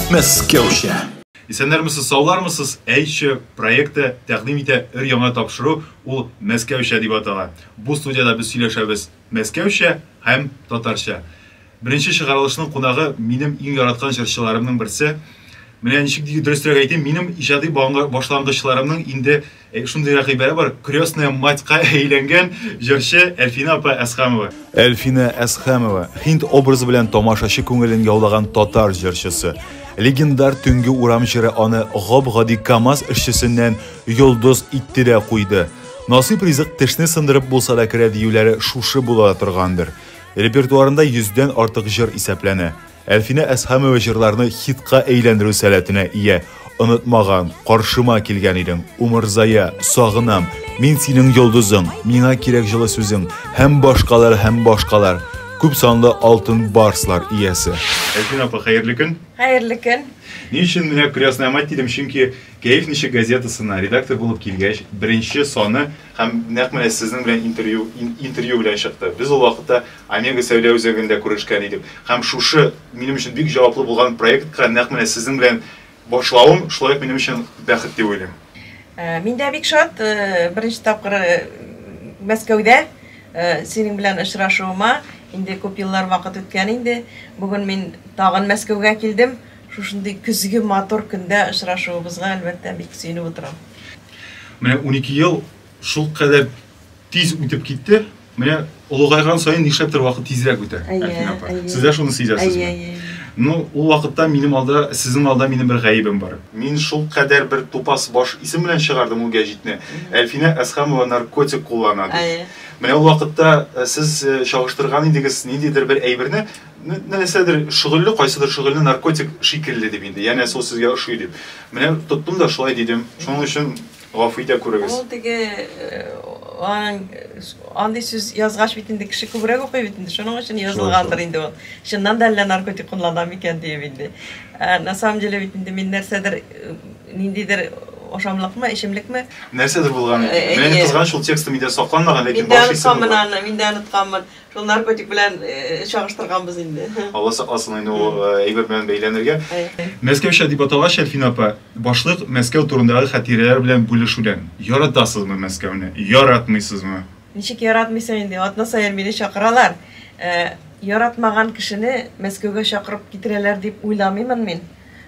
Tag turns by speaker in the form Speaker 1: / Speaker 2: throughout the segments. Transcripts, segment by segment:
Speaker 1: Мәскәүчә. Исәннәрмесез, саулармысыз? Әйче проекты тәкъдим итә өр яңа тапшыру, ул Мәскәүчә дип атала. Бу студияда без сөйләшәбез Мәскәүчә һәм татарча. Беренче чыгарылышның кунагы минем иң яраткан җырчыларымның берсе. Менә ничек диге дөресрәк әйтим, минем иҗади башлангычларымның инде шундый рәкыйбәе бар, крестная матька әйләнгән җырчы Әлфинә апа Әсхәмова. Әлфинә Әсхәмова, Һинд образы белән тамашачы күңелен яулаган татар җырчысы. Легендар Төнге урам җыры аны гап-гади КАМАЗ эшчесеннән йолдыз итте дә куйды. Насыйп ризык тешне сындырып булса да керә диюләре шушы була да торгандыр. Репертуарында йөздән артык җыр исәпләнә. Әлфинә Әсхәмова җырларны хитка әйләндерү сәләтенә ия. Онытмаган, Каршыма килгән идең, Умырзая, Сагынам, Мин синең йолдызың, Миңа кирәк җылы сүзең һәм башкалар һәм башкалар. Күп санлы алтын барслар иясе. Әлфинә апа, хәерле көн! Хәерле көн! Ни өчен менә Крестная мать дидем, чөнки Кәеф ничек газетасына редактор булып килгәч, беренче саны һәм нәкъ менә сезнең белән интервью, интервью белән чыкты. Без ул вакытта Омега сәүдә үзәгендә күрешкән идек. Һәм шушы минем өчен бик җаваплы булган проектка нәкъ менә сезнең белән башлавым шулай ук минем өчен бәхет дип уйлыйм. Э, мин дә бик шат, э, беренче тапкыр э, Мәскәүдә синең белән очрашуыма. Инде күп еллар вакыт үткән инде. Бүген мин тагын Мәскәүгә килдем. Шушындый көзге матур көндә очрашуыбызга, әлбәттә, бик сөенеп утырам. Менә унике ел шул кадәр тиз үтеп китте. Менә олыгайган саен нишләптер вакыт тизрәк үтә. Әйе, әйе. Сез дә шуны сизәсезме? Әйе, әйе. Ну, ул вакытта минем алда, сезнең алда минем бер гаебем бар. Мин шул кадәр бер тупас баш исем белән чыгардым ул гәҗитне. Әлфинә Әсхамова наркотик куллана дип. Әйе. Менә ул вакытта сез чагыштырган идегез ниндидер бер әйберне, Нәрсәдер шөгыльле, кайсыдыр шөгыльне наркотик шикелле дип инде, янәсе ул сезгә ошый дип. Менә тоттым да шулай дидем. Шуның өчен гафу итә күрегез. Ул теге андый сүз язгач бит инде кеше күбрәк укый бит инде, шуның өчен язылгандыр инде ул. Чыннан да әллә наркотик куллана микән диеп инде. Ә на самом деле бит инде мин нәрсәдер ниндидер ашамлыкмы, эчемлекме? Нәрсәдер булган икән. Менә кызганыч ул тексты миндә сакланмаган, ләкин баш исем булган. Мин дә онытканмын аны, мин дә онытканмын. Шул наркотик белән чагыштырганбыз инде. Алла сакласын инде ул әйбер белән бәйләнергә. Мәскәүчә дип аталгач, Әлфина апа, башлык Мәскәү турындагы хатирәләр белән бүлешүдән. Яратасызмы Мәскәүне? Яратмыйсызмы? Ничек яратмыйсың инде, атна саен мине чакыралар. Яратмаган кешене Мәскәүгә чакырып китерәләр дип уйламыймын мин.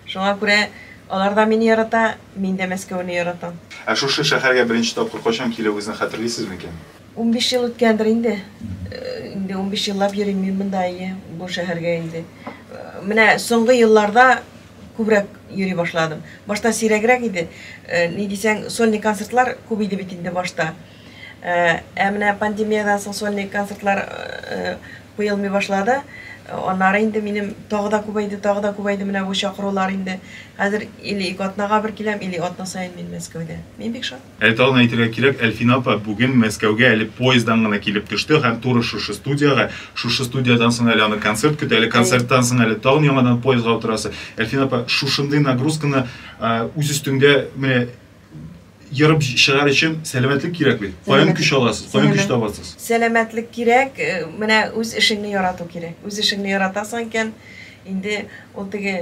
Speaker 1: Шуңа күрә алар да мине ярата, мин дә Мәскәүне яратам. Ә шушы шәһәргә беренче тапкыр кайчан килүегезне хәтерлисез микән? Унбиш ел үткәндер инде. Инде унбиш еллап йөрим мин монда, әйе, бу шәһәргә инде. Менә соңгы елларда күбрәк йөри башладым. Башта сирәгрәк иде. Ни дисәң, сольный концертлар күп иде бит инде башта. Ә менә пандемиядән соң сольный концертлар куелмый башлады. Аннары инде минем тагы да күбәйде, тагы да күбәйде менә бу чакырулар инде. Хәзер или ике атнага бер киләм, или атна саен мин Мәскәүдә. Мин бик шат. Әле тагын әйтергә кирәк, Әлфинә апа бүген Мәскәүгә әле поезддан гына килеп төште һәм туры шушы студиягә. Шушы студиядән соң әле аны концерт көтә, әле концерттан соң әле тагын яңадан поездга утырасы. Әлфинә апа, шушындый нагрузканы үз өстеңдә менә ерып чыгар өчен сәламәтлек кирәк бит. Каян көч аласыз, каян көч табасыз? Сәламәтлек кирәк, менә үз эшеңне ярату кирәк. Үз эшеңне яратасың икән, инде ул теге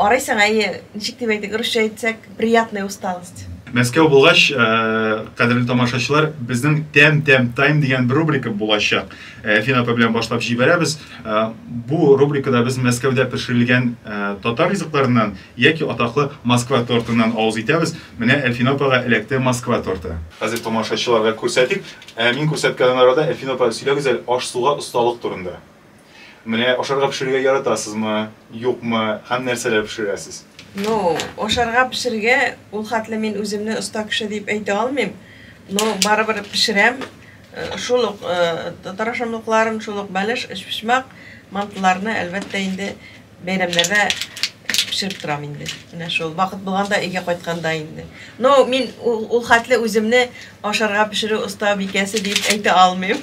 Speaker 1: Арыйсың, әйе, ничек дип әйтик, русча әйтсәк, приятная усталость. Мәскәү булгач, э, кадерле тамашачылар, безнең тәм тәм тайм дигән бер рубрика булачак. Э, Фин апа белән башлап җибәрәбез. Э, бу рубрикада без Мәскәүдә пешерелгән татар ризыкларыннан яки атаклы Москва тортыннан авыз итәбез. Менә Әлфин апага эләкте Москва торты. Хәзер тамашачыларга күрсәтик. Ә мин күрсәткән арада Әлфин апа сөйләгез әле аш-суга осталык турында. Менә ашарга пешерергә яратасызмы, юкмы һәм нәрсәләр пешерәсез? Ну, ашарга пешерергә ул хәтле мин үземне оста кеше дип әйтә алмыйм. Но барыбер пешерәм. Э, шул ук э, татар ашамлыкларын, шул ук бәлеш, өчпочмак, мантыларны, әлбәттә, инде Бәйрәмнәрдә пешереп торам инде. Менә шул вакыт булганда өйгә кайтканда инде. Но мин ул хәтле үземне ашарга пешерү оста бикәсе дип әйтә алмыйм.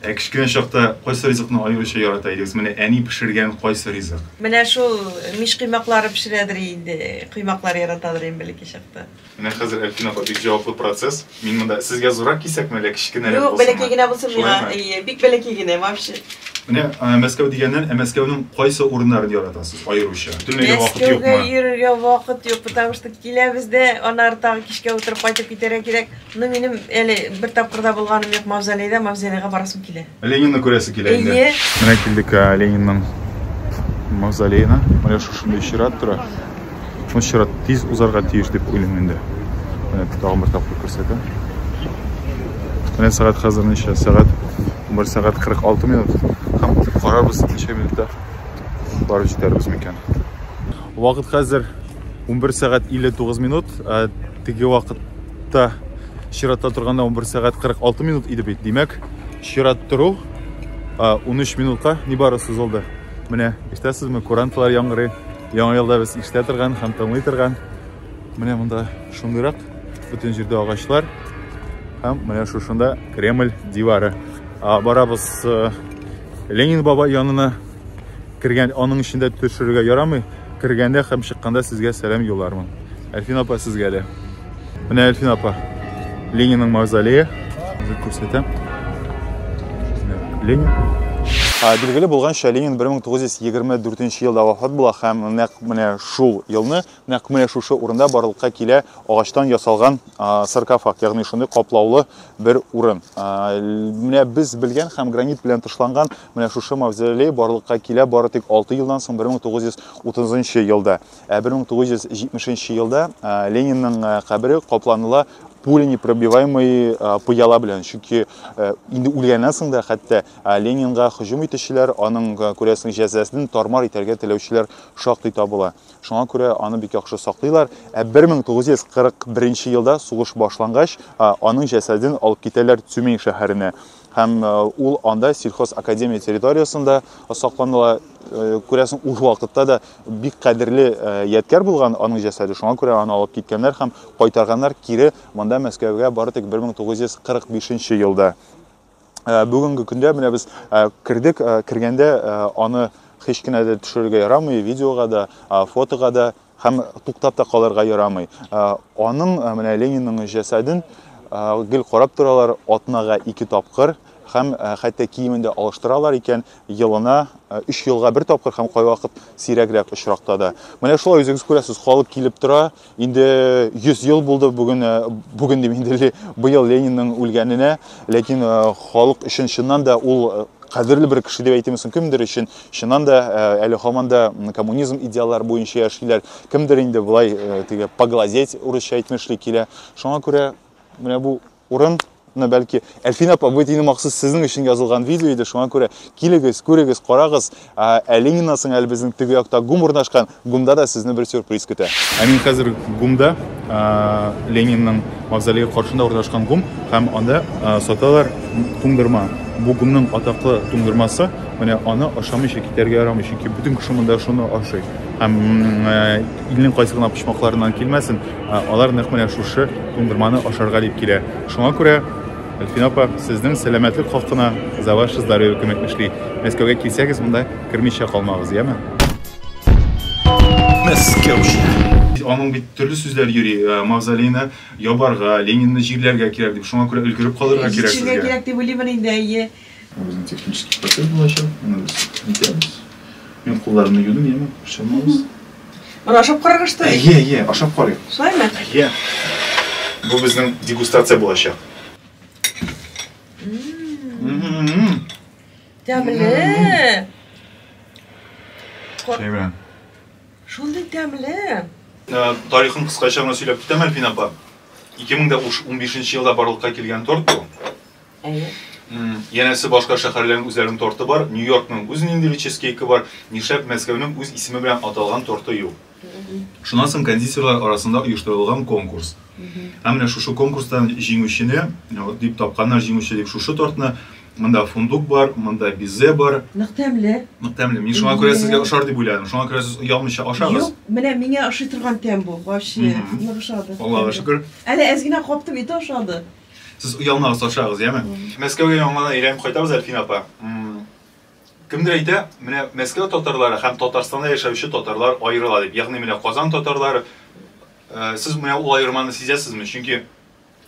Speaker 1: Ә кечкенә чакта кайсы ризыкны аеруча ярата идегез? Менә әни пешергән кайсы ризык? Менә шул мич коймаклары пешерәдер инде, коймаклар яратадыр инде бәлки чакта. Менә хәзер Әлфин апа бик җаваплы процесс. Мин монда сезгә зуррак кисәкме, әллә кечкенәрәк булсын? Юк, бәләкәй генә булсын миңа. Әйе, бик бәләкәй генә вообще. Менә Мәскәү дигәннән, ә Мәскәүнең кайсы урыннарын яратасыз аеруча? Төрлегә вакыт юкмы? Мәскәүгә йөрергә вакыт юк, потому что киләбез дә, аннары тагы кичкә утырып кайтып китәргә кирәк. Ну, минем әле бер тапкыр да булганым юк Мавзолейда, Мавзолейга барасым килә. Ленинны күрәсе килә инде. Әйе. Менә килдек ә, Ленинның мавзолеена. Менә шушында чират тора. Бу чират тиз узарга тиеш дип уйлыйм инде. Менә тагын бер тапкыр күрсәтәм. Менә сәгать хәзер ничә? Сәгать 1 сәгать 46 минут. Һәм карарбыз ничә минутта барып җитәрбез микән. Вакыт хәзер 11 сәгать 59 минут. Теге вакыт чиратта чиратта торганда 11 сәгать 46 минут иде бит димәк чират тору 13 минутка нибары сузылды менә ишетәсезме куранталар яңгырый яңа елда без ишетә торган һәм тыңлый торган менә монда шундыйрак бөтен җирдә агачлар һәм менә шушында кремль дивары барабыз ленин бабай янына Кергән, аның эчендә төшерергә ярамый. Кергәндә һәм чыкканда сезгә сәлам юллармын. Әлфин апа сезгә дә. Менә Әлфин апа. Ленинның мавзолее. Үзек күрсәтәм. Ленин. Билгеле булганча, Ленин 1924 елда вафат була һәм нәкъ менә шул елны, нәкъ менә шушы урында барлыкка килә агачтан ясалган саркофаг, ягъни шундый каплаулы бер урын. Менә без белгән һәм гранит белән тышланган Менә шушы мавзолей барлыкка килә бары тик 6 елдан соң 1930 елда. Ә 1970 елда Ленинның кабере капланыла пуленепробиваемый пыяла белән. Чөнки инде үлгәннән соң да хәтта Ленинга һөҗүм итүчеләр, аның күрәсең җәзасын тармар итәргә теләүчеләр шактый табыла. Шуңа күрә аны бик яхшы саклыйлар. Ә 1941 елда сугыш башлангач, аның җәсәден алып китәләр Цюмень шәһәренә. Һәм ул анда сельхозакадемия территориясендә сакланыла. Күрәсең, ул вакытта да бик кадерле ядкәр булган аның җәсәде. Шуңа күрә аны алып киткәннәр һәм кайтарганнар кире монда Мәскәүгә бары тик 1945 елда. Бүгенге көндә менә без кердек, кергәндә аны һич кенә дә төшерергә ярамый, видеога да, фотога да. Һәм туктап та калырга ярамый. Аның, менә Ленинның җәсәден гел карап торалар атнага ике тапкыр һәм хәтта киемен дә алыштыралар икән, елына өч елга бер тапкыр һәм кайвакыт сирәгрәк очракта да. Менә шулай үзегез күрәсез, халык килеп тора. Инде 100 ел булды бүген, бүген дим инде быел Ленинның үлгәненә, ләкин халык өчен чыннан да ул кадерле бер кеше дип әйтемсең, кемдер өчен Чыннан да, әле һаман да коммунизм идеаллары буенча яшиләр. Кемдер инде болай теге поглазеть урысча әйтмешли килә. Шуңа күрә менә бу урын мына бәлки әлфин апа бу дини махсус сезнең өчен язылган видео иде шуңа күрә килегез күрегез карагыз ә лениннан соң әле безнең теге якта гум урнашкан ГУМда да сезне бер сюрприз көтә. Ә мин хәзер ГУМда, Ленинның мавзолее каршында урнашкан ГУМ, һәм анда саталар туңдырма. Бу ГУМның атаклы туңдырмасы, менә аны ашамыйча китәргә ярамый, чөнки бөтен кеше монда шуны ашый. Һәм илнең кайсы гына почмакларыннан килмәсен, алар нәкъ менә шушы туңдырманы ашарга дип килә. Шуңа күрә, Әлфинә апа, сезнең сәламәтлек хакына За ваше здоровье күмәк эшли. Мәскәүгә килсәгез, монда кермичә калмагыз, яме? Аның бит төрле сүзләр йөри, э, мавзолейны ябарга, Ленинны җирләргә кирәк дип, шуңа күрә өлгереп калырга кирәк сезгә. Җитшергә кирәк дип уйлыймын инде, әйе. Безнең технический процесс булачак, аны без итәбез. Мин кулларымны юдым, яме, борчылмагыз. Аны ашап карарга что ли? Әйе, әйе, ашап карыйк. Шулаймы? Әйе. Бу безнең дегустация булачак. Тәмле. Чәй белән. Шундый тәмле. Ә, тарихын кыскача гына сөйләп китәм, Әлфин апа. 2015 елда барлыкка килгән торт бу. Әйе. Янәсе башка шәһәрләрнең үзләренең торты бар, Нью-Йоркның үз ниндидер чизкейкы бар, нишләп Мәскәүнең үз исеме белән аталган торты юк? Шуннан соң кондитерлар арасында оештырылган конкурс. Ә менә шушы конкурстан җиңүчене, вот дип тапканнар җиңүче дип шушы тортны. Монда фундук бар, монда бизе бар. Нык тәмле. Нык тәмле. Мин шуңа күрә сезгә ошар дип уйладым. Шуңа күрә сез оялмыйча ашагыз. Юк, менә миңа ошый торган тәм бу. Вообще, нык ошады. Аллага шөкер. Әле әз генә каптым, и то ошады. Сез оялмагыз, ашагыз, яме? Мәскәүгә яңадан әйләнеп кайтабыз, Әлфинә апа. Кемдер әйтә, менә Мәскәү татарлары һәм Татарстанда яшәүче татарлар аерыла дип. Ягъни менә Казан татарлары, сез менә ул аерманы сизәсезме? Чөнки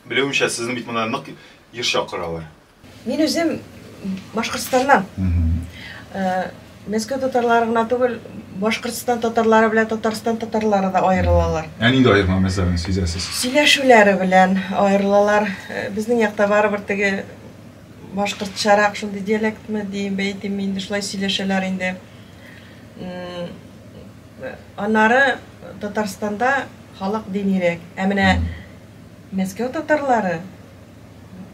Speaker 1: белүемчә, сезне бит монда нык еш чакыралар. Мин үзем Башкортстаннан. Мәскәү татарлары гына түгел, Башкортстан татарлары белән Татарстан татарлары да аерылалар. Ә нинди аерма мәсьәләне сизәсез? Сөйләшүләре белән аерылалар. Безнең якта барыбер теге Башкортчарак шундый диалектмы диеп әйтим мин инде, шулай сөйләшәләр инде. Аннары Татарстанда халык динирәк, ә менә Мәскәү татарлары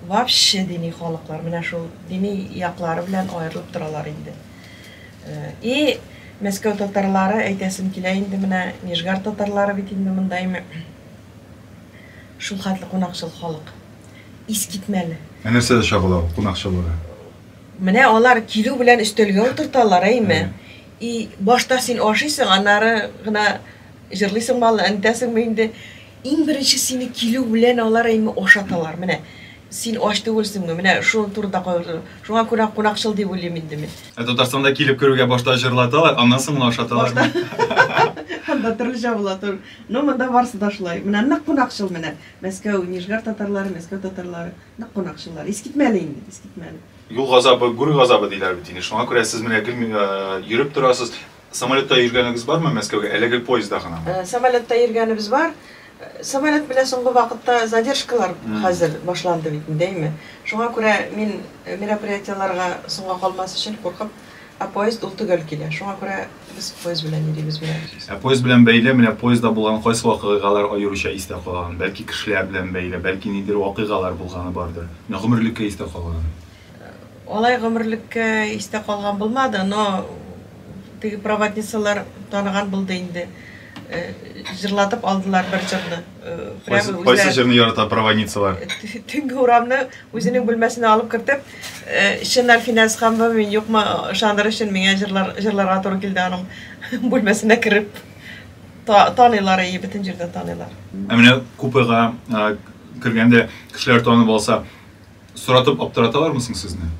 Speaker 1: вообще дини халыклар, менә шул дини яклары белән аерылып торалар инде. И Мәскәү татарлары әйтәсем килә инде менә Нижгар татарлары бит инде монда име шул хәтле кунакчыл халык. Искитмәле. Ә нәрсә дә чагыла ул кунакчылыгы? Менә алар килү белән өстәлгә утырталар, әйме? И, башта син ашыйсың, аннары гына җырлыйсыңмы әллә, онтәсеңме инде? Иң беренче сине килү белән алар, әйме, ашаталар. Менә син ач түгелсеңме? Менә шуның турында кайгырту. Шуңа күрә кунакчыл дип уйлыйм инде мин. Ә Татарстанда килеп керүгә башта җырлаталар, аннан соң гына ашаталармы? Башта. Анда төрлечә була тор. Ну, монда барысы да шулай. Менә нык кунакчыл менә. Мәскәү, Нижгар татарлары, Мәскәү татарлары, нык кунакчыллар. Искитмәле инде, искитмәле. Юл газабы, гүр газабы диләр бит инде, шуңа күрә сез менә гел йөреп торасыз. Самолетта йөргәнегез бармы Мәскәүгә, әле гел поездда гынамы? Самолетта йөргәнебез бар. Самолет белән соңгы вакытта задержкалар хәзер башланды бит инде, әйме. Шуңа күрә мин мероприятиеләргә соңга калмас өчен куркып, Ә поезд ул төгәл килә. Шуңа күрә без поезд белән йөрибез берәр. Ә поезд белән бәйле, менә поездда булган кайсы вакыйгалар аеруча истә калган? Бәлки кешеләр белән бәйле, бәлки нидер вакыйгалар булганы бардыр. Менә гомерлеккә истә калган. Алай гомерлеккә истә калган булмады, но теге проводницалар таныган булды инде. җырлатып алдылар бер җырны. Кайсы, кайсы җырны ярата проводницалар? Төнге урамны үзенең бүлмәсенә алып кертеп, чын Альфинәс ханмы, мин юкмы, ышандыр өчен миңа җырлар, җырларга туры килде аның бүлмәсенә кереп. Та, таныйлар, и, бөтен җирдә таныйлар. Ә менә купега кергәндә кешеләр танып алса, Соратып аптыраталармы соң сезне?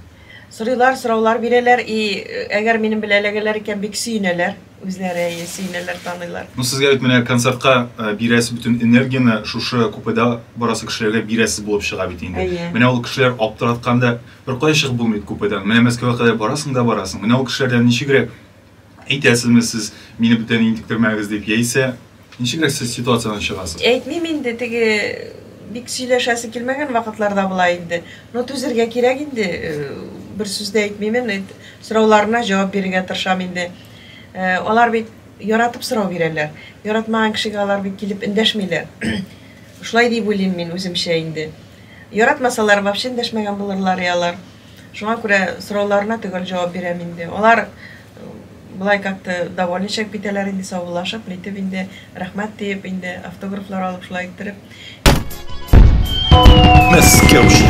Speaker 1: Сорыйлар, сораулар бирәләр и әгәр минем белән эләгәләр икән, бик сөенәләр. Үзләре әйе, сөенәләр, таныйлар. Ну, сезгә бит менә концертка э, бирәсе бөтен энергияне шушы купеда барасы кешеләргә бирәсе булып чыга бит инде. Әйе. Менә ул кешеләр аптыратканда бер кая чыгып булмый купедан. Менә Мәскәүгә кадәр барасың да барасың. Менә ул кешеләрдән ничегрәк Әйтәсезме сез, мине бүтән интектермәгез дип, яисә ничегрәк сез ситуациядән чыгасыз? Әйтмим инде, теге бик сөйләшәсе килмәгән вакытларда була инде. Но түзергә кирәк инде, бер сүз дә әйтмимен, сорауларына җавап бирергә тырышам инде. Алар бит яратып сорау бирәләр. Яратмаган кешегә алар бит килеп эндәшмиләр. Шулай дип уйлыйм мин үземчә инде. Яратмасалар, вообще эндәшмәгән булырлар алар. Шуңа күрә сорауларына төгәл җавап бирәм инде. Алар былай как-то довольничек битәләр инде, саубуллашып, нитеп инде, рәхмәт диеп инде, автографлар алып шулай иттереп. Мәскәүчә.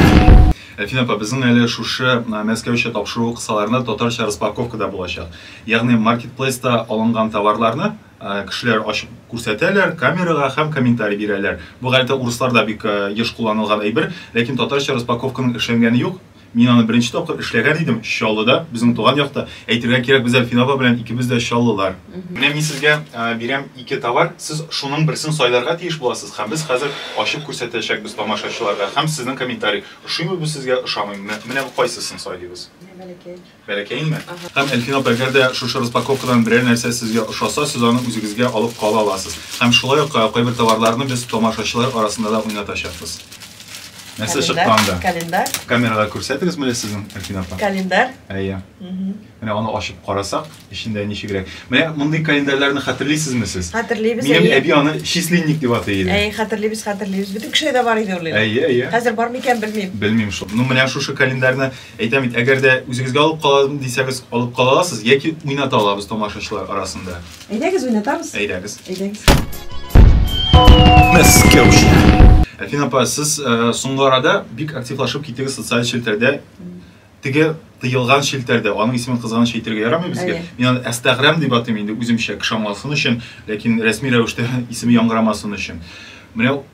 Speaker 1: Әлфинә апа, безнең әле шушы Мәскәүчә тапшыру кысаларында татарча распаковка да булачак. Ягъни маркетплейста алынган товарларны Кешеләр ачып күрсәтәләр, камерага һәм комментарий бирәләр. Бу гадәттә урысларда бик еш кулланылган әйбер, ләкин татарча распаковканың эшләнгәне юк. Мин аны беренче тапкыр эшләгән идем, Чаллыда, безнең туган якта. Әйтергә кирәк, без Әлфин апа белән икебез дә чаллылар. Менә мин сезгә бирәм ике товар, сез шуның берсен сайларга тиеш буласыз һәм без хәзер ачып күрсәтәчәкбез тамашачыларга һәм сезнең комментарий, ошыймы бу сезгә, ошамыймы, менә кайсысын сайлыйбыз? Менә бәләкәй. Бәләкәйме? Һәм, Әлфин апа, әгәр дә шушы распаковкадан берәр нәрсә сезгә ошаса, сез аны үзегезгә алып кала аласыз. Һәм шулай ук кайбер товарларны без тамашачылар арасында да уйнатачакбыз. Нәрсә чыккан да? Календарь. Камерага күрсәтегез мөле сезнең, Әлфин апа? Календарь? Әйе. Менә аны ачып карасак, эчендә ничегрәк. Менә мондый календарьләрне хәтерлисезме сез? Хәтерлибез, әйе. Минем әби аны числинник дип атый иде. Әйе, хәтерлибез, хәтерлибез. Бөтен кешедә дә бар иде ул инде. Әйе, әйе. Хәзер бар микән, белмим. Белмим шул. Ну, менә шушы календарьны Әйтәм бит, әгәр дә үзегезгә алып калам дисәгез, алып кала аласыз, яки уйната алабыз тамашачылар арасында. Әйдәгез, уйнатабыз. Әйдәгез. Әйдәгез. Әлфин апа, сез э, соңгы арада бик активлашып киттегез социаль челтәрдә. Теге тыелган челтәрдә, аның исемен кызганыч әйтергә ярамый безгә. Әйе. Мин аны Әстәгърәм дип атыйм инде үземчә, кеше аңласын өчен, ләкин рәсми рәвештә исеме яңгырамасын өчен. Менә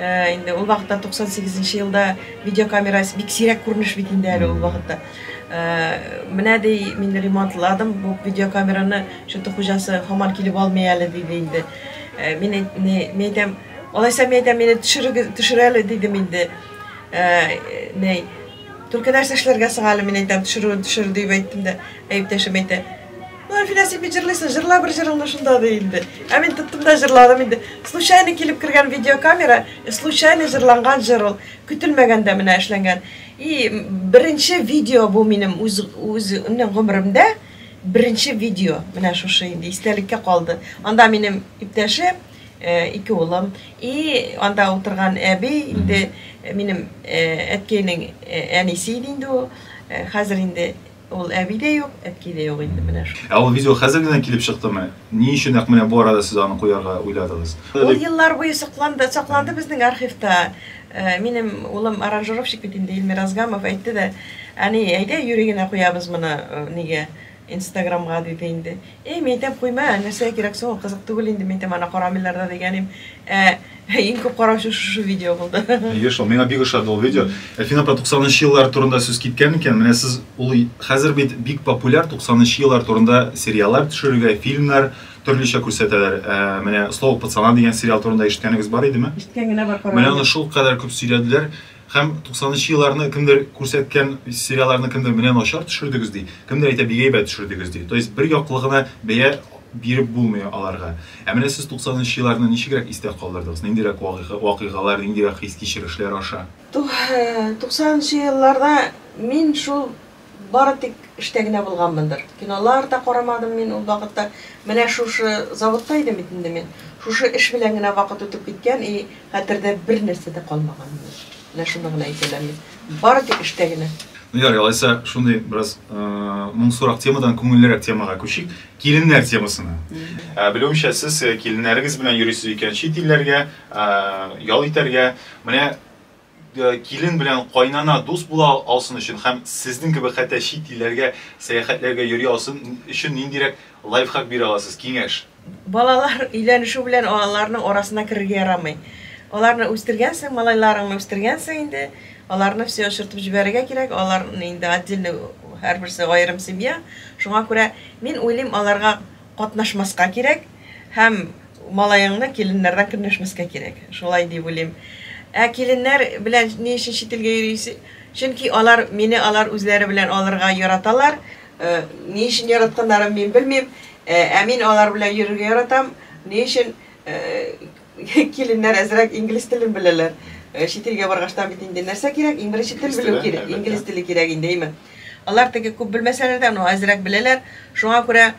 Speaker 1: Инде ул вакытта 98 нче елда видеокамера бик сирәк күренеш бит инде әле ул вакытта. Менә ди мин ремонтладым бу видеокамераны, шуты хуҗасы хаман килеп алмый әле диде инде. Мин әйтәм, алайса мин әйтәм, мине төшерегез, төшерәле дидем инде. Ней, только нәрсә эшләргә соң әле мин әйтәм, төшерүен төшер дип әйттем дә, әйптәшем әйтә. Ну, Әлфинә, син бит җырлыйсың, җырла бер җырыңны шунда ди инде. Ә мин тоттым да җырладым инде. Случайно килеп кергән видеокамера, э, случайно җырланган җыр ул. Көтелмәгәндә менә эшләнгән. И беренче видео бу минем үз үз гомеремдә беренче видео. Менә шушы инде истәлеккә калды. Анда минем иптәшем, э, ике улым и анда утырган әби инде э, минем э, әткәйнең э, әнисе иде инде ул. Э, Хәзер инде Ул әби дә юк, әти дә юк инде менә шул. Ә ул видео хәзер генә килеп чыктымы? Ни өчен нәкъ менә бу арада сез аны куярга уйладыгыз? Ул еллар буе сокланды, сакланды безнең архивта. Минем улым аранжировщик бит инде, Илмир Азгамов, әйтте дә, Әни, әйдә юри генә куябыз моны нигә, инстаграмга, диде инде. Әй, мин әйтәм, куйма, нәрсәгә кирәк соң ул, кызык түгел инде, мин әйтәм, аны карамыйлар да дигән идем. Ә Ең күп караучы шушы видео булды. Әйе шул, миңа бик ошады ул видео. Әлфина апа 90нчы еллар турында сүз киткән икән, менә сез ул хәзер бит бик популяр 90нчы еллар турында сериаллар төшерергә, фильмнар төрлечә күрсәтәләр. Ә, менә Слово пацана дигән сериал турында ишеткәнегез бар идеме? Ишеткән генә бар, караган. Менә аны шул кадәр күп сөйләделәр. Һәм 90 нчы елларны кемдер күрсәткән сериалларны кемдер менә начар төшердегез ди, кемдер әйтә бик әйбәт төшердегез ди. То есть бер яклы гына бәя биреп булмый аларга. Ә менә сез 90 нчы елларны ничегрәк истә калдырдыгыз? Ниндирәк вакыйгалар, ниндирәк хис-кичерешләр аша? 90 нчы елларда мин шул Бары тик эштә генә булганмындыр. Кинолар да карамадым мин ул вакытта. Менә шушы заводта идем бит инде мин. Шушы эш белән генә вакыт үтеп киткән и хәтердә бер нәрсә дә калмаган минем. Менә шуны гына әйтә алам мин. Бары тик эштә генә. Ну ярый, алайса шундый бераз моңсурак темадан күңеллерәк темага күчик, киленнәр темасына. Белүемчә, сез киленнәрегез белән йөрисез икән чит илләргә ял итәргә. Менә килен белән кайнана дус була алсын өчен һәм сезнең кебек хәтта чит илләргә сәяхәтләргә йөри алсын өчен ниндирәк лайфхак бирә аласыз, киңәш? Балалар өйләнешү белән аларның арасына керергә ярамый. Аларны үстергәнсең, малайларыңны үстергәнсең инде, аларны все очыртып җибәрергә кирәк, алар инде отдельный, һәрберсе аерым семья, шуңа күрә мин уйлыйм, аларга, катнашмаска кирәк һәм малаеңны киленнәрдән көнләшмәскә кирәк. Шулай дип уйлыйм. Ә киленнәр белән ни өчен чит илгә йөрис? Чөнки алар, мине алар үзләре белән алырга яраталар. Ни өчен яратканнарын мин белмим, ә мин алар белән йөрергә яратам. Ни өчен? Киленнәр әзрәк инглиз телен беләләр. Э, чит илгә баргаштан бит инде нәрсә кирәк? Иң беренче тел белү кирәк. Инглиз теле кирәк инде, әйме? Алар теге күп белмәсәләр дә, ну әзрәк беләләр. Шуңа күрә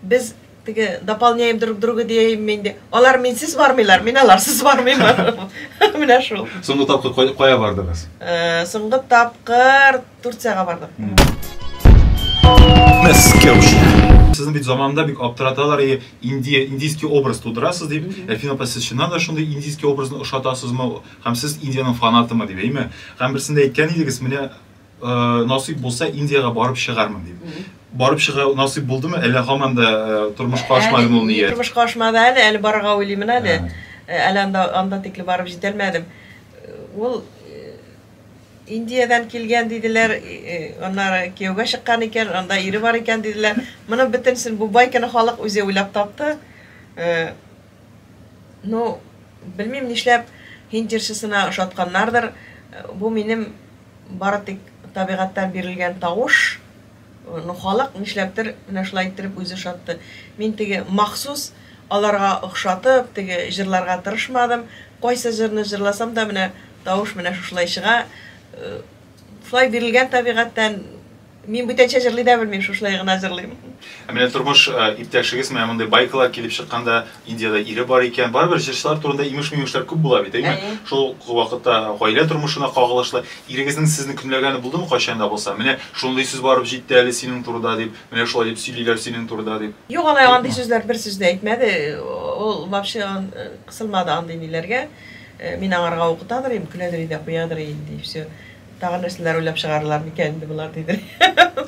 Speaker 1: без теге дополняем друг друга дияйм инде. Алар минсез бармыйлар, мин аларсыз бармыймын. Менә шул. Соңгы тапкыр кая бардыгыз? Э, соңгы тапкыр Турцияга бардык. Сезне бит заманда бик аптыраталар, и Индия, индийский образ тудырасыз дип, Эльфина апа, сез чыннан да шундый индийский образны ошатасызмы, һәм сез Индиянең фанатымы дип, әйме? Һәм берсендә әйткән идегез, менә э, насыйп булса Индиягә барып чыгармын дип. Барып чыга насыйп булдымы, әллә һаман да э, тормышка ашмадымы ул ният? Тормышка ашмады әле, әле барырга уйлыймын әле. Әле анда, анда тикле барып җитәлмәдем. Ул Индиядән килгән диделәр, аннары кияүгә чыккан икән, анда ире бар икән диделәр. Моның бөтенесен бу байканы халык үзе уйлап тапты. Ну, белмим нишләп һинд җырчысына ошатканнардыр. Бу минем бары тик табигатьтән бирелгән тавыш. Ну халык нишләптер менә шулай иттереп үзе шатты. Мин теге махсус аларга охшатып, теге җырларга тырышмадым. Кайсы җырны җырласам да менә тавыш менә шушылай чыга. Шулай бирелгән табигатьтән. Мин бүтәнчә җырлый да белмим, шушылай гына җырлыйм. Ә менә тормыш иптәшегез менә мондый байкалар килеп чыкканда Индиядә ире бар икән. Барыбер җырчылар турында имеш-мимешләр күп була бит, әйеме? Әйе. Шул ук вакытта гаилә тормышына кагылышлы. Ирегезнең сезне көнләгәне булдымы кайчан да булса? Менә шундый сүз барып җитте әле синең турыда дип, менә шулай дип сөйлиләр синең турыда дип. Юк, алай андый сүзләр бер сүз дә әйтмәде. Ул вообще кысылмады андый ниләргә. Мин аңарга укытадыр идем, көләдер иде, куядыр иде, и всё. Тагын нәрсәләр уйлап чыгарырлар микән инде болар дидер идем.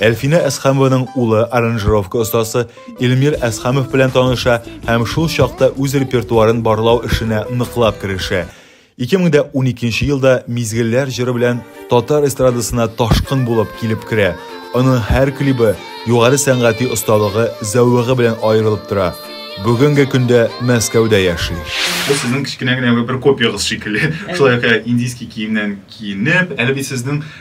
Speaker 1: Әлфинә Әсхәмованың улы аранжировка остасы Илмир Әсхәмов белән таныша һәм шул чакта үз репертуарын барлау эшенә ныклап керешә. 2012 елда Мизгелләр җыры белән татар эстрадасына ташкын булып килеп керә. Аның һәр клибы югары сәнгати осталыгы, зәвыгы белән аерылып тора. Бүгенге көндә Мәскәүдә яши. Бу сезнең кечкенә генә бер копиягыз шикелле. Шулай ук индийский киемнән киенеп, әле бит сезнең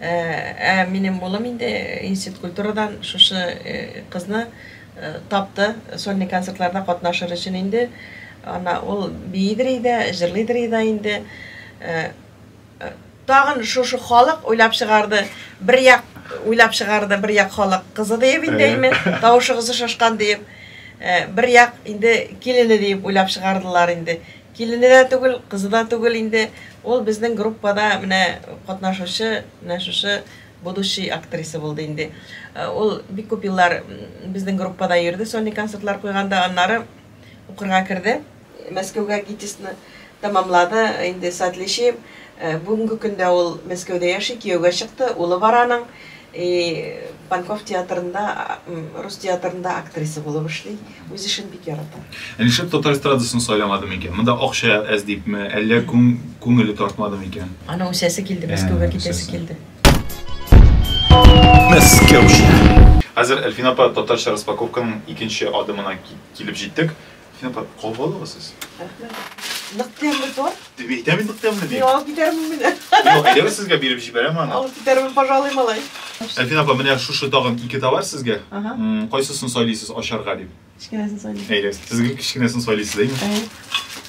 Speaker 1: Ә минем улым инде институт культурадан шушы кызны тапты, сольный концертларда катнашыр өчен инде. Ана ул биидер иде, җырлыйдыр иде инде. Тагын шушы халык уйлап чыгарды. Бер як уйлап чыгарды, бер як халык кызы диеп инде әйме, тавышыгызы шашкан диеп. Бер як инде килене диеп уйлап чыгардылар инде. Килене дә түгел, кызы да түгел инде. Ул безнең группада менә катнашучы, менә шушы будущий актриса булды инде. Ул бик күп еллар безнең группада йөрде, сольный концертлар куйганда, аннары укырга керде. Мәскәүгә ГИТИСны тәмамлады, инде с отличием. Бүгенге көндә ул Мәскәүдә яши, кияүгә чыкты, улы бар аның. И Панков театрында, рус театрында актриса булып эшли. Үз эшен бик ярата. Ә нишләп татар эстрадасын сайламады микән? Монда акча әз дипме, әллә күңеле тартмады микән? Аны үсәсе килде, Мәскәүгә китәсе килде. Мәскәүче. Хәзер Әлфина апа татарча распаковканың икенче адымына килеп җиттек. Әлфина апа, кабул алыгыз сез. Рәхмәт. Нык тәмле торт. Дип әйтәм инде тәмле дип. Мин алып китәрмен менә. Юк, әйдәгез сезгә биреп җибәрәм аны. Алып китәрмен, пожалуй, малай. Әлфина апа, менә шушы тагын ике товар сезгә. Ага. М, Кайсысын сайлыйсыз ашарга дип? Кечкенәсен сайлыйм. Әйдәгез, сез гел кечкенәсен сайлыйсыз, әйме?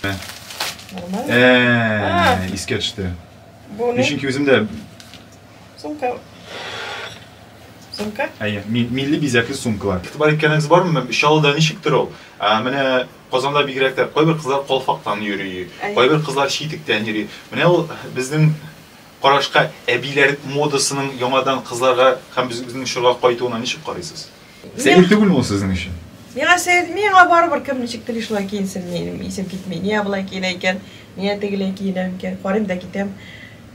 Speaker 1: Әй. Нормально. Ә, искә төште. Бу Мин не? чөнки үзем дә Сумка. Сумка? әйе, ми- милли бизәкле сумкалар. Игътибар иткәнегез бармы? Чаллыда ничектер ул. Ә, Менә Казанда бигрәк тә кайбер кызлар калфактан йөри, кайбер кызлар читектән йөри. Менә ул безнең карашка әбиләр модасының яңадан кызларга һәм безнең чорга кайтуына ничек карыйсыз? Сәер түгелме ул сезнең өчен? Миңа сәер, миңа барыбер кем ничек тели шулай киенсен, минем исем китми. Нигә болай киенә икән, нигә тегеләй киенә микән, карыйм да китәм.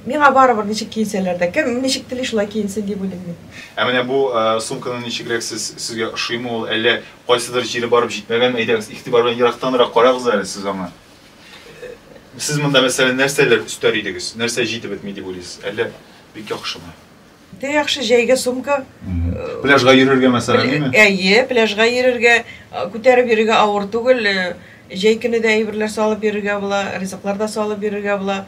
Speaker 1: Миңа барыбер ничек киенсәләр дә, кем ничек тели шулай киенсен дип уйлыйм мин. Ә менә бу сумканы ничегрәк сез, сезгә ошыймы ул, әллә Кайсыдыр җире барып җитмәгән, әйдәгез, игътибар белән ерактанрак карагыз әле сез аңа. Сез монда, мәсәлән, нәрсәләр өстәр идегез? Нәрсә җитеп бетми дип уйлыйсыз? Әллә бик яхшымы? Бик яхшы, җәйгә сумка. Пляжга йөрергә, мәсәлән, димме? Әйе, пляжга йөрергә, күтәреп йөрергә авыр түгел. Җәй көне дә әйберләр салып йөрергә була, ризыклар да салып йөрергә була.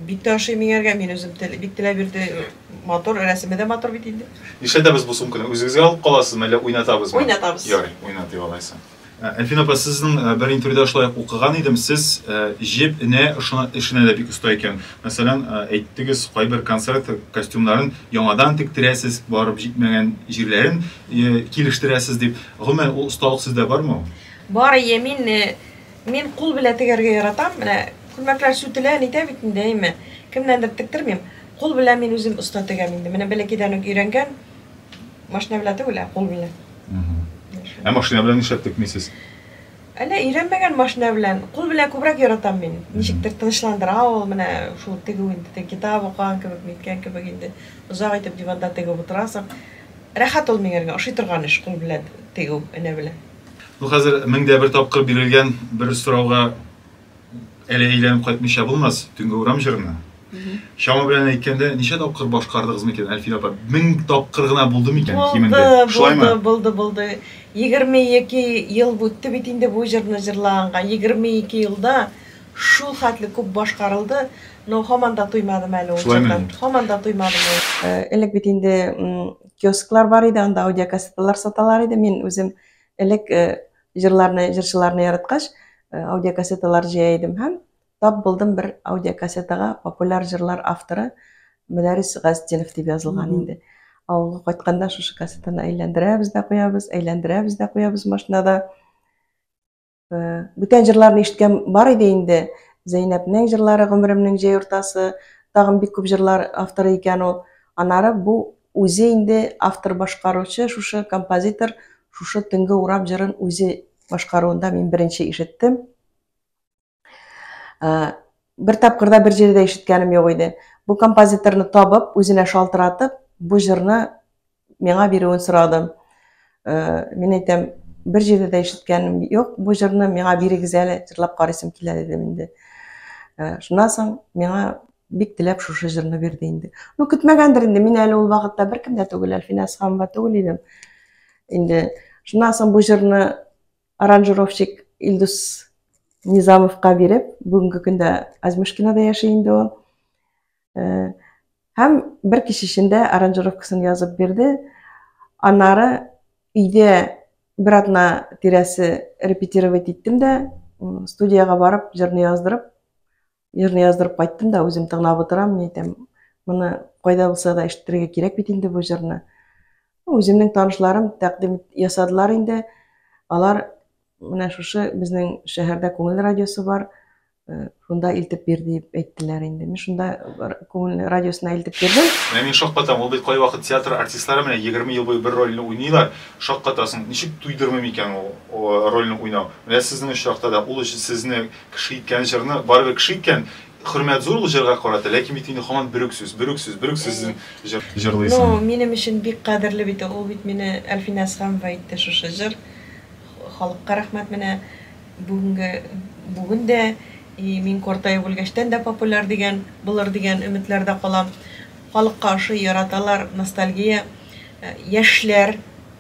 Speaker 1: Бик тә ошый миңа әлегә, мин үзем тел, бик теләп йөрде. Матур, рәсеме дә матур бит инде. Нишләтәбез бу сумканы? Үзегезгә алып каласызмы, әллә уйнатабызмы? Уйнатабыз. Ярый, уйнатыйк алайса. Ә, Әлфина апа, сезнең ә, бер интервьюда шулай ук укыган идем, сез ә, җеп энә ышына- эшенә дә бик оста икән. Мәсәлән, ә, әйттегез, кайбер концерт костюмнарын яңадан тектерәсез, барып җитмәгән җирләрен э, килештерәсез дип. Гомумән, ул осталык сездә бармы ул? Бар, әйе, мин э, Мин кул белән тегәргә яратам, менә күлмәкләр сүтелә, нитә бит инде, әйме. Кемнәндер тектермим. Кул белән мин үзем оста тегәм инде. Менә бәләкәйдән үк өйрәнгән. Машина белән түгел, ә кул белән. Ә машина белән нишләп текмисез? Әллә өйрәнмәгән машина белән. Кул белән күбрәк яратам мин. Ничектер тынычландыра ул, менә шул тегү инде. Теге китап укыган кебек, ниткән кебек инде. Озак итеп диванда тегеп утырасың. Рәхәт ул миңа, ошый торган эш, кул белән тегү, энә белән. Бу хәзер мең дә бер тапкыр бирелгән бер сорауга әле әйләнеп кайтмыйча булмас, төнге урам җырына. Чама белән әйткәндә, ничә тапкыр башкардыгыз микән, Әлфия апа? Мең тапкыр гына булды микән кимендә? Шулаймы? Булды, булды, булды. Егерме ике ел үтте бит инде бу җырны җырлаганга. Егерме ике елда шул хәтле күп башкарылды, но һаман да туймадым әле ул җырдан. Шулаймыни? Һаман да туймадым ул. Элек бит инде киосклар бар иде, анда аудиокассеталар саталар иде. Мин үзем элек э, җырларны, җырчыларны яраткач, э, аудиокассеталар җыя идем һәм тап булдым бер аудиокассетага популяр җырлар авторы Мөнәрис Газтинов дип язылган инде. Авылга кайтканда шушы кассетаны әйләндерәбез дә куябыз, әйләндерәбез дә куябыз машинада. Бүтән җырларны ишеткән бар иде инде. Зәйнәпнең җырлары, Гомеремнең җәй уртасы, тагын бик күп җырлар авторы икән ул. Анары бу үзе инде автор башкаручы, шушы композитор шушы Төнге урам җырын үзе башкаруында мин беренче ишеттем. Бер тапкырда бер җирдә ишеткәнем юк иде. Бу композиторны табып, үзенә шалтыратып, бу җырны Миңа бирүен сорады. Мин әйтәм, бер җирдә дә ишеткәнем юк бу җырны, миңа бирегез әле, җырлап карыйсым килә дидем инде. Шуннан соң миңа бик теләп шушы җырны бирде инде. Ну, көтмәгәндер инде, мин әле ул вакытта беркем дә түгел, Әлфинә Асханова түгел идем. Инде шуннан соң бу җырны аранжировщик Илдус Низамовка биреп, бүгенге көндә Азмышкинада яши инде ул. Э, һәм бер кич эчендә аранжировкасын язып бирде. Аннары өйдә бер атна тирәсе репетировать иттем дә, студияга барып, җырны яздырып, җырны яздырып кайттым да, үзем тыңлап утырам, мин әйтәм, моны кайда булса да ишетергә кирәк бит инде бу җырны. Үземнең танышларым тәкъдим ясадылар инде. Алар Менә шушы безнең шәһәрдә күңел радиосы бар, э, шунда илтеп бир дип әйттеләр инде. Мин шунда күңел радиосына илтеп бирдем. Менә мин шаккатам, ул бит кайвакыт театр артистлары менә 20 ел буе бер рольне уйныйлар, шаккатасың, ничек туйдырмый микән ул рольне уйнау. Менә сезнең очракта да ул сезне кеше иткән җырны, барыбер кеше иткән, хөрмәт зур ул җырга карата, ләкин бит инде һаман бер үк сүз, бер үк сүз, бер үк сүз җырлыйсың. Ну, минем өчен бик кадерле бит ул, ул бит мине Әлфинә Әсхәмова әйтте шушы җыр. Халыкка рәхмәт менә бүгенге бүген дә и мин картаеп үлгәчтән дә популяр дигән булыр дигән өметләрдә калам. Халыкка ошый, яраталар, ностальгия. Яшьләр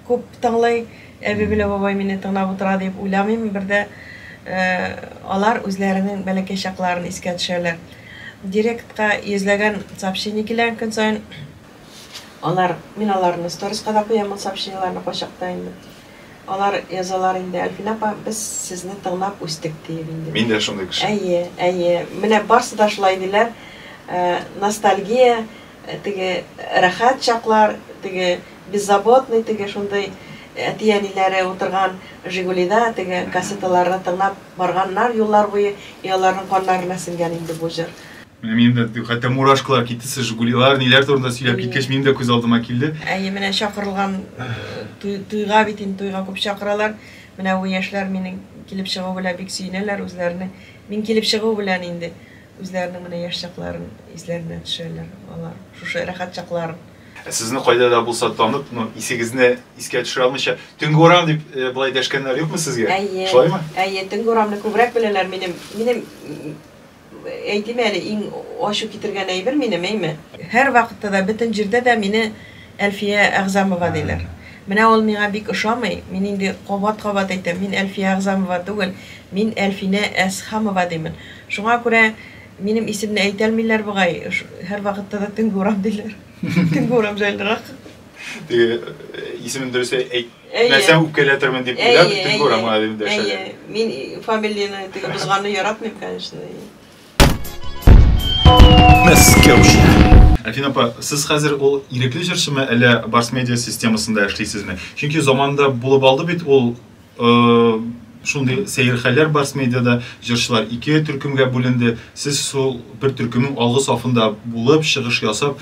Speaker 1: күп тыңлый, әби белән бабай мине тыңлап утыра диеп уйламыйм, бер дә алар үзләренең бәләкәй чакларын искә төшәләр. Директка йөзләгән сообщение килә көн саен. Алар, мин аларны сториска да куям ул сообщениеларны кайчакта инде. Алар язалар инде, Әлфинә апа, без сезне тыңлап үстек, диеп инде. Мин дә шундый кеше. Әйе, әйе. Менә барсы да шулай диләр. Ностальгия, теге рәхәт чаклар, теге беззаботный, теге шундый әти-әниләре утырган Жигулида теге кассеталарны тыңлап барганнар юллар буе, и аларның каннарына сеңгән инде бу җыр. Менә минем дә хәтта мурашкалар китте, сез Жигулилар, ниләр турында сөйләп киткәч, минем дә күз алдыма килде. Әйе, менә чакырылган туйга бит инде туйга күп чакыралар. Менә бу яшьләр минем килеп чыгу белән бик сөенәләр үзләренең. Мин килеп чыгу белән инде үзләренең менә яшь чакларын исләренә төшәләр алар. Шушы рәхәт чакларын. Ә сезне кайда да булса танып, ну, исегезне искә төшерә алмыйча, төнге урам дип э, былай дәшкәннәр юкмы сезгә? Әйе. Шулаймы? Әйе, төнге урамны күбрәк беләләр минем. Минем Әйтим әле, иң ачу китергән әйбер минем, әйме? Һәрвакытта да, бөтен җирдә дә мине Әлфия Әгъзамова диләр. Менә ул миңа бик ошамый, мин инде кабат-кабат әйтәм, мин Әлфия Әгъзамова түгел, мин Әлфинә Әсхамова димен. Шуңа күрә минем исемне әйтәлмиләр бугай, һәрвакытта да Төнге урам диләр. Төнге урам җайлырак. Теге исемен дөрес әйт. Нәрсә үпкәләтермен дип уйлап, төнге урамга әйләнеп дәшәләр. Мин фамилияне теге бозганны яратмыйм, конечно. Альфина апа, сез хәзер ул ирекле җырчымы, әллә Барс Медиа системасында эшлисезме? Чөнки заманында булып алды бит ул шундый сәер хәлләр Барс Медиада, җырчылар ике төркемгә бүленде. Сез шул бер төркемнең алгы сафында булып, чыгыш ясап,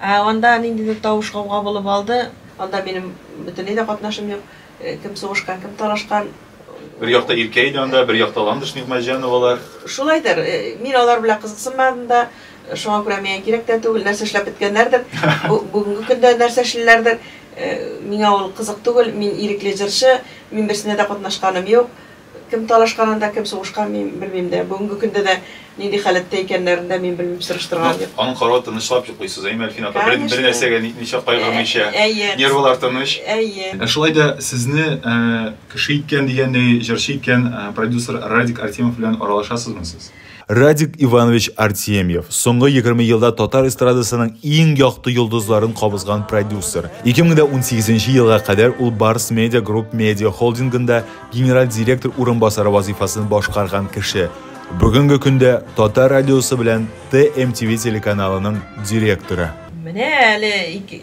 Speaker 1: Анда ниндидер тавыш-гауга булып алды. Анда минем бөтенләй дә катнашым юк. Кем сугышкан, кем талашкан. Бер якта Иркә иде анда, бер якта Ландыш Нигъмәтҗановалар. Шулайдыр. Мин алар белән кызыксынмадым да. Шуңа күрә миңа кирәк тә түгел. Нәрсә эшләп беткәннәрдер. Бүгенге көндә нәрсә эшлиләрдер. Миңа ул кызык түгел. Мин ирекле җырчы. Мин берсенә дә катнашканым юк. Кем талашкан анда, кем сугышкан, мин белмим дә. Бүгенге көндә дә нинди халәттә икәннәрен дә мин белмим, сораштырган юк. Аның каравы тынычлап йоклыйсыз, әйеме, Әлфинә апа? Бер, бер нәрсәгә нитмичә, кайгырмыйча. Әйе. Нервылар тыныч. Әйе. Ә шулай да сезне кеше иткән дигәндәй, җырчы иткән продюсер Радик Артемов белән аралашасызмы сез? Радик Иванович Артемьев, соңгы 20 елда татар эстрадасының иң якты йолдызларын кабызган продюсер. 2018 елга кадәр ул Барс Медиа Групп медиа холдингында генераль директор урынбасары вазифасын башкарган кеше. Бүгенге көндә Татар радиосы белән ТМТВ телеканалының директоры. Менә әле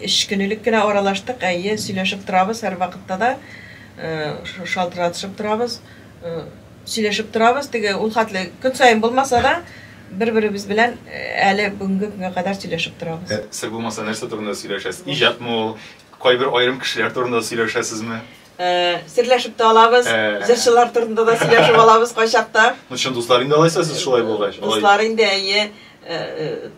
Speaker 1: өч көнелек кенә аралаштык, әйе, сөйләшеп торабыз һәрвакытта да, шалтыратышып торабыз. Сөйләшеп торабыз, теге ул хәтле көн саен булмаса да, бер-беребез белән әле бүгенге көнгә кадәр сөйләшеп торабыз. Сер булмаса, нәрсә турында сөйләшәсез? Иҗатмы ул? Кайбер аерым кешеләр турында сөйләшәсезме? Серләшеп тә алабыз, җырчылар турында да сөйләшеп алабыз кайчакта. Ну, чын дуслар инде алайса сез шулай булгач. Дуслар инде, әйе,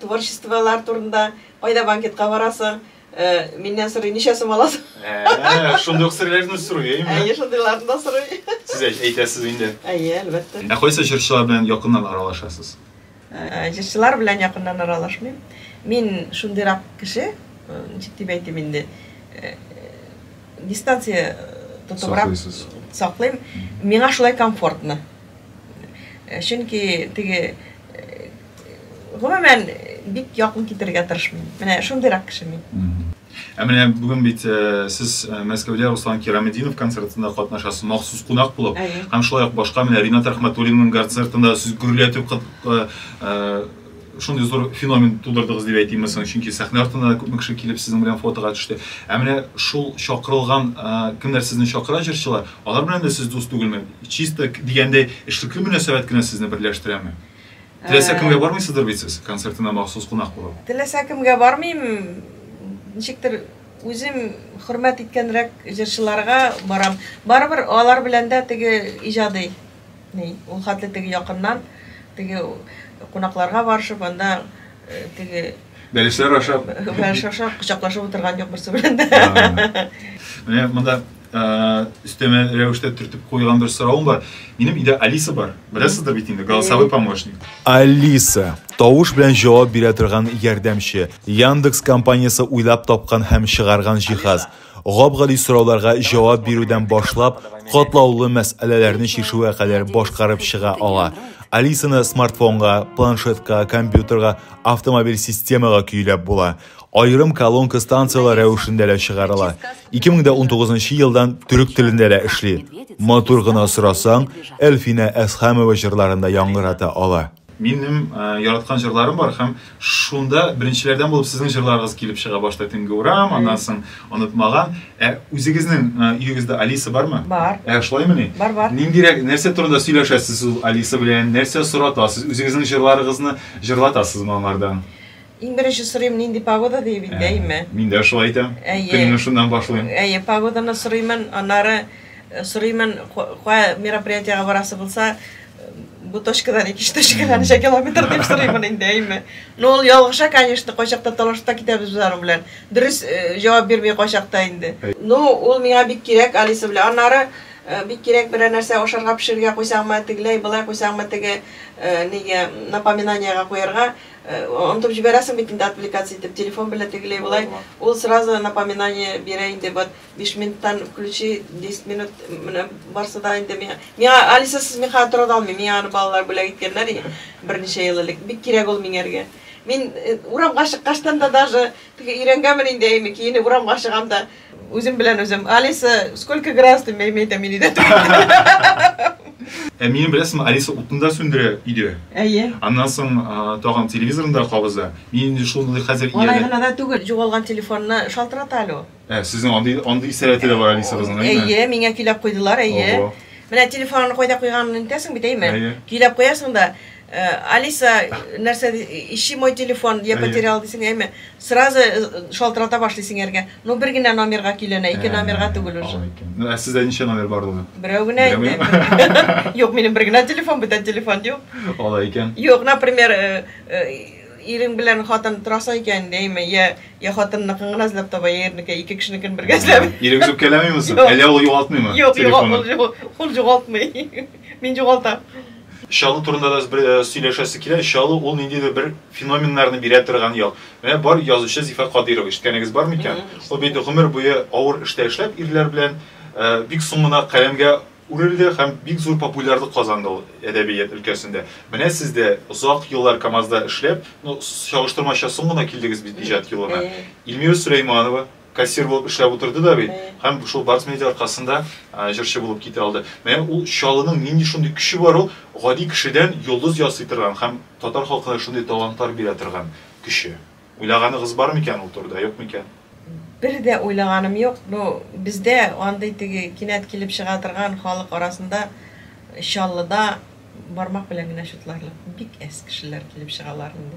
Speaker 1: творчестволар турында, кайда банкетка барасың, Ә, миннән сорый, ничә сум аласың? Ә, шундый ук серләрне сорый, әйме? Әйе, шундыйларны да сорый. Сез әйтәсез инде. Әйе, әлбәттә. Ә кайсы җырчылар белән якыннан аралашасыз? Ә, җырчылар белән якыннан аралашмыйм. Мин шундыйрак кеше, ничек дип әйтим инде, э, дистанция тотыбрак саклыйм. Миңа шулай комфортно. Э, чөнки теге э, Гомумән, бик якын китерергә тырышмыйм. Менә шундыйрак кеше мин. Ә менә бүген бит э, сез э, Мәскәүдә Руслан Кираметдинов концертында катнашасыз, махсус кунак булып. Әйе. Һәм шулай ук башка менә Ринат Рәхмәтуллинның концертында сез гөрләтеп кыт- э, э, шундый зур феномен тудырдыгыз дип әйтимме соң, чөнки сәхнә артына да күпме кеше килеп сезнең белән фотога төште. Ә менә шул чакырылган э, кемнәр сезне чакыра җырчылар, алар белән дә сез дус түгелме? Чисто к- дигәндәй эшлекле мөнәсәбәт кенә сезне берләштерәме? Теләсә э, кемгә бармыйсыздыр бит сез концертына махсус кунак булып? Теләсә кемгә бармыйм. Ничектер үзем хөрмәт иткәнрәк җырчыларга барам. Барыбер алар белән дә теге иҗади ни, ул хәтле теге якыннан теге кунакларга барышып анда э, теге Бәлешләр ашап. Бәлеш ашап, кочаклашып утырган юк берсе белән дә. Менә монда өстәмә рәвештә төртеп куйган бер соравым бар. Минем өйдә Алиса бар. Беләсездер бит инде, голосовой помощник. Алиса, тавыш белән җавап бирә торган ярдәмче. Яндекс компаниясе уйлап тапкан һәм чыгарган җиһаз. Гап-гади сорауларга җавап бирүдән башлап, катлаулы мәсьәләләрне чишүгә кадәр башкарып чыга ала. Алисаны смартфонга, планшетка, компьютерга, автомобиль системага көйләп була. Аерым колонка станцияләр рәвешендә дә чыгарыла. 2019 елдан төрек телендә дә эшли. Матур гына сорасаң, Әлфинә Әсхәмова җырларын да яңгырата ала. Минем яраткан җырларым бар һәм шунда беренчеләрдән булып сезнең җырларыгыз килеп чыга, башта Төнге урам, аннан соң Онытмаган. Ә үзегезнең өегездә Алиса бармы? Бар. Ә шулаймыни? Бар, бар. Ниндирәк, нәрсә турында сөйләшәсез ул Алиса белән, нәрсә соратасыз, үзегезнең җырларыгызны җырлатасызмы аңардан? Иң беренче сорыйм, нинди погода, диеп инде, әйеме? Мин дә шулай әйтәм. Көнне шуннан башлыйм. Әйе, погоданы сорыймын, аннары сорыймын, кая мероприятиегә барасы булса, бу точкадан икенче точкага ничә километр дип сорыймын инде, әйеме? Ну, ул ялгыша, конечно, кайчакта талашта китәбез без аның белән. Дөрес җавап бирми кайчакта инде. Ну, ул миңа бик кирәк, Алиса белән. Аннары бик кирәк берәр нәрсә ашарга пешерергә куйсаңмы, тегеләй, болай куйсаңмы, теге, нигә, напоминаниегә куярга. Онытып җибәрәсең бит инде отвлекаться итеп, телефон белән тегеләй болай, ул сразу напоминание бирә инде, вот биш минуттан включи, десять минут менә барсы да инде миңа, миңа Алисасыз мин хәзер тора да алмыйм, миңа аны балалар бүләк иткәннәр иде берничә ел элек, бик кирәк ул миңәргә. Мин урамга чыккачтан да даже, теге өйрәнгәнмен инде әйме, киенеп урамга чыгам да, Үзем белән үзем. Алиса, сколько градус ты имеет мин иде? Ә минем беләсеңме, Алиса утны да сүндерә иде. Әйе. Аннан соң тагын телевизорны да кабыза. Мин инде шуны хәзер ияле. Алай гына да түгел, югалган телефонны шалтырата әле ул. Ә, сезнең андый андый сәләте дә бар Алиса кызның, әйеме? Әйе, миңа көйләп куйдылар, әйе. Менә телефонны кайда куйганын онытасың бит, әйеме? Әйе. Көйләп куясың да, Алиса, нәрсә ди, ищи мой телефон, я потерял дисең, әйме, сразу шалтырата башлый сеңәргә. Ну, бер генә номерга көйләнә, ике номерга түгел уже. Алай икән. Ну, ә сездә ничә номер бар ул? Берәү генә инде. Юк, минем бер генә телефон, бүтән телефон юк. Алай икән. Юк, например, ирең белән хатын торасың икән, әйме, я, я хатынныкын гына эзләп таба, я ирнеке, ике кешенекен бергә эзләп. Ирегез үпкәләмиме соң? Әллә ул югалтмыймы? Юк, юк, ул югалтмый. Мин югалтам. Чалу турында да бер э, сөйләшәсе килә. Чалу ул ниндидер бер феноменнарны бирә торган ял. Менә бар язучы Зифа Кадирова ишеткәнегез бар микән? Ул бит гомер буе авыр эштә эшләп ирләр белән э, бик соңына каләмгә үрелде һәм бик зур популярлык казанды ул әдәбият өлкәсендә. Менә сез дә озак еллар КАМАЗда эшләп, ну, чагыштырмача соң гына килдегез бит иҗат юлына. Эльмира Сөләйманова, Кассир булып эшләп утырды да бит һәм шул Барс Медиа аркасында җырчы булып китә алды. Менә ул Чаллының нинди шундый көче бар ул, гади кешедән йолдыз ясый торган һәм татар халкына шундый талантлар бирә торган көче. Уйлаганыгыз бармы икән ул турыда, юкмы икән? Бер дә уйлаганым юк. Ну, бездә андый теге кинәт килеп чыга торган халык арасында Чаллыда бармак белән генә чутларлык бик әз кешеләр килеп чыгалар инде.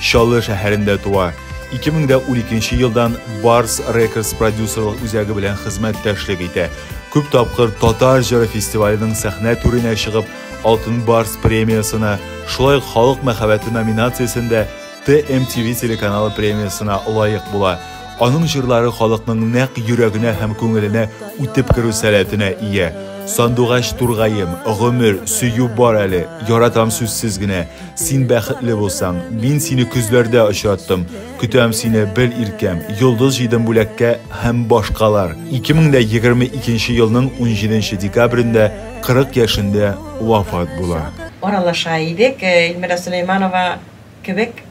Speaker 1: Чаллы шәһәрендә туа. 2012 елдан Барс Records продюсерлык үзәге белән хезмәттәшлек итә. Күп тапкыр Татар җыры фестиваленең сәхнә түренә чыгып, Алтын Барс премиясенә, шулай ук Халык мәхәббәте номинациясендә TMTV телеканалы премиясенә лаек була. Аның җырлары халыкның нәкъ йөрәгенә һәм күңеленә үтеп керү сәләтенә ия. Сандугач тургаем, Гомер, Сөю бар әле, Яратам сүзсез генә, Син бәхетле булсаң, мин сине көзләрдә очраттым. Көтәм сине бер иркәм, йолдыз җыйдым бүләккә һәм башкалар. 2022 елның 17 декабрендә 40 яшендә вафат була. Аралаша идек, Эльмира Сөләйманова кебек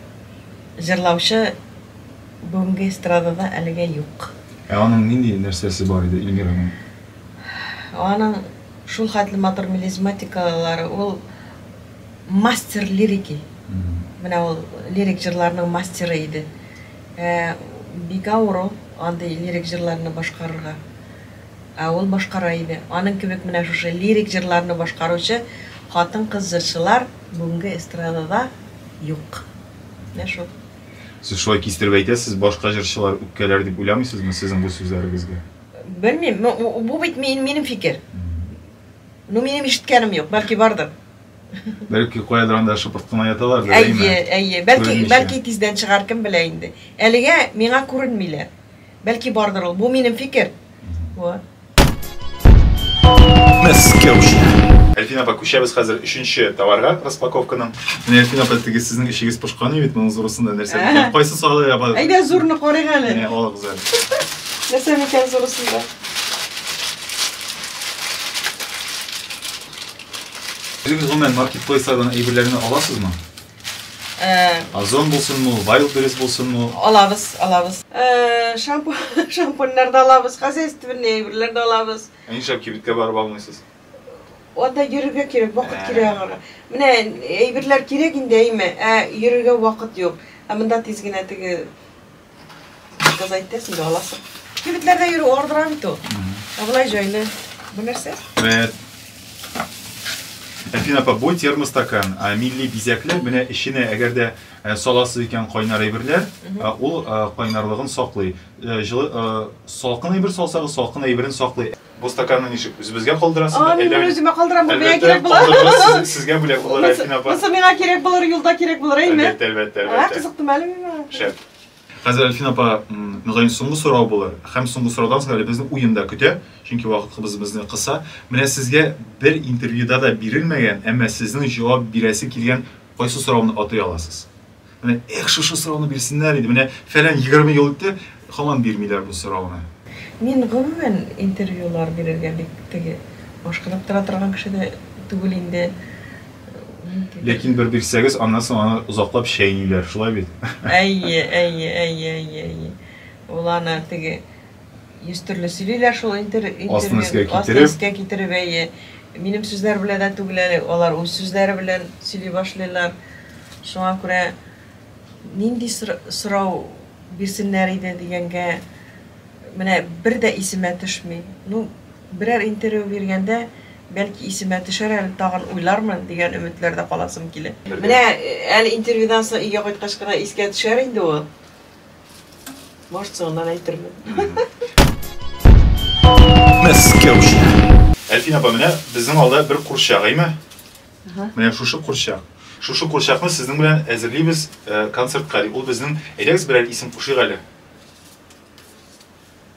Speaker 1: җырлаучы бүгенге эстрадада әлегә юк. Ә аның нинди нәрсәсе бар иде, Эльмираның? Аның шулхәтле матур мелизматикалары, ул мастер лирики. Менә ул лирик җырларның мастеры иде. Ә бик авыр ул андый лирик җырларны башкарырга. Ә ул башкара иде. Аның кебек менә шушы лирик җырларны башкаручы хатын-кыз җырчылар бүгенге эстрадада юк. Менә шул. Сез шулай кистереп әйтәсез, башка җырчылар үпкәләр дип уйламыйсызмы сезнең бу сүзләрегезгә? Белмим, бу бит минем фикер. Ну, минем ишеткәнем юк, бәлки бардыр. Бәлки каядыр анда шыпырт кына яталар да, әйме? Әйе, әйе. Бәлки, бәлки тиздән чыгар, кем белә инде. Әлегә миңа күренмиләр. Бәлки бардыр ул. Бу минем фикер. Вот. Әлфина апа, күчәбез хәзер өченче товарга распаковканың. Менә Әлфина апа, теге сезнең эшегез пошкан бит, моның зурысында нәрсә микән? Кайсы салы апа? Әйдә зурны карыйк әле. Менә алыгыз әле. Нәрсә микән зурысында? Үзегез гомумән маркетплейслардан әйберләрне аласызмы? Э, Озон булсынмы, ул, Wildberries булсынмы? ул? алабыз, алабыз. Э, Шампунь, шампуньнар да алабыз, хозяйственный әйберләр дә алабыз. Ә Нишләп кибеткә барып алмыйсыз? Анда йөрергә кирәк, вакыт Ә. кирәк аңа. Менә әйберләр кирәк инде, әйме, ә йөрергә вакыт юк. Ә монда тиз генә теге Кыз әйтте, син дә аласың. Кибетләрдә йөрү ардыра бит ул. Ә болай җайлы. Бу нәрсә? Бәт. Әфин апа, бу термостакан, а, милли бизәклек, менә эченә әгәр дә ә, саласыз икән кайнар әйберләр, ә, ул а, кайнарлыгын саклый. Ә, Җылы, а, салкын әйбер салсагыз, салкын әйберен саклый. Бу стаканны ничек? Үзебезгә калдырасыз да? Мин үземә калдырам, бу миңа кирәк булыр. Калдырырга сезгә бүләк булыр, Альфина апа. Монысы миңа кирәк булыр, юлда кирәк булыр, әйме? Әлбәттә, әлбәттә, әлбәттә. Кызыктым әле миңа. Шәп. Хәзер Альфина апа, мөгаен, соңгы сорау булыр. Һәм соңгы сораудан соң әле безне уен да көтә, чөнки вакытыбыз безне кыса. Менә сезгә бер интервьюда да бирелмәгән, әмма сезнең җавап бирәсе килгән кайсы сорауны атый аласыз? Менә эх, шушы сорауны бирсеннәр иде. Менә фәлән 20 ел үтте, хаман бирмиләр бу сорауны. Мин гомумән интервьюлар бирергә бик теге ашкынып тора торган кеше дә түгел инде. Ләкин бер бирсәгез, аннан соң аны озаклап чәйниләр, шулай бит? Әйе, әйе, әйе, әйе, әйе. Ул аны теге Йөз төрле сөйлиләр шул интервью. Астын өскә китереп. Астын өскә китереп, әйе. Минем сүзләр белән дә түгел әле, алар үз сүзләре белән сөйли башлыйлар. Шуңа күрә нинди сорау бирсеннәр иде дигәнгә, менә бер дә исемә төшми. Ну, берәр интервью биргәндә, бәлки исемә төшәр әле, тагын уйлармын, дигән өметләрдә каласым килә. Менә әле интервьюдан соң өйгә кайткач кына искә төшәр инде ул. Может, соңыннан әйтермен. Әлфин апа, менә безнең алда бер курчак, әйме? Менә шушы курчак. Шушы курчакны сезнең белән әзерлибез э, концертка. Ул безнең әйдәгез берәр исем кушыйк әле.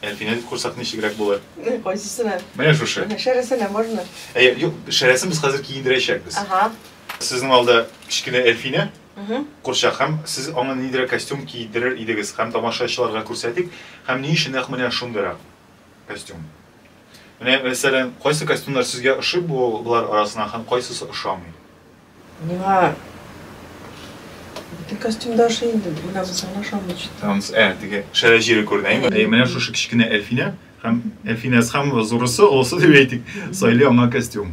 Speaker 1: Әлфинә дип курсак ничегрәк булыр? Кайсысына? Менә шушы. Шәрәсенә можно? Әйе, юк, шәрәсен без хәзер киендерәчәкбез. Ага. Сезнең алда кечкенә Әлфинә, Курчак, һәм сез аңа ниндирәк костюм киедерер идегез, һәм тамашачыларга күрсәтик, һәм ни өчен нәкъ менә шундыйрак костюм? Менә, мәсәлән, кайсы костюмнар сезгә ошый бу болар арасыннан һәм кайсысы ошамый? Миңа бөтен костюм да ошый инде, менә монсы гына ошамый чит. Ә, теге шәрә җире күренә, әйеме? Әйе, менә шушы кечкенә Әлфинә, һәм Әлфинәсе, һәм зурысы, олысы дип әйтик, сайлый аңа костюм.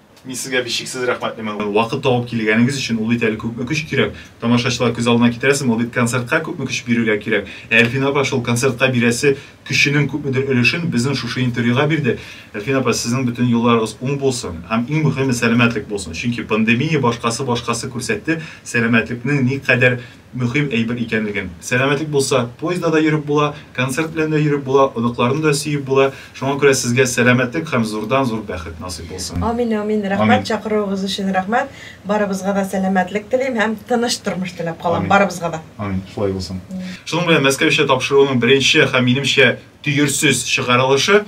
Speaker 1: Мин сезгә бишексез рәхмәтлемен. Вакыт табып килгәнегез өчен. Ул бит әле күпме көч кирәк. Тамашачылар күз алдына китерәсең, ул бит концертка күпме көч бирергә кирәк. Ә Әлфинә апа шул концертка бирәсе көченең күпмедер өлешен безнең шушы интервьюга бирде. Әлфинә апа, сезнең бөтен юлларыгыз уң булсын. Һәм иң мөхиме, сәламәтлек булсын. Чөнки пандемия башкасы-башкасы күрсәтте, сәламәтлекнең никадәр мөһим әйбер икәнлеген. Сәламәтлек булса, поездда да йөреп була, концерт белән дә йөреп була, оныкларны да сөеп була. Шуңа күрә сезгә сәламәтлек һәм зурдан-зур бәхет насыйп булсын. Амин, амин. Рәхмәт чакыруыгыз өчен рәхмәт. Барыбызга да сәламәтлек телим һәм тыныч тормыш теләп калам барыбызга да. Амин, шулай булсын. Шуның белән Мәскәүчә тапшыруның беренче һәм, минемчә, төерсез чыгарылышы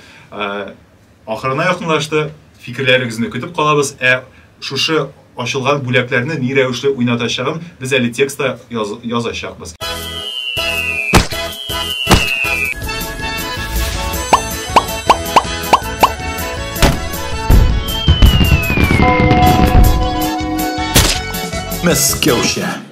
Speaker 1: Ахырына якынлашты, фикерләрегезне көтеп калабыз, ә шушы ачылган бүләкләрне ни рәвешле уйнатачагын без әле текстта язачакбыз. Мәскәүчә.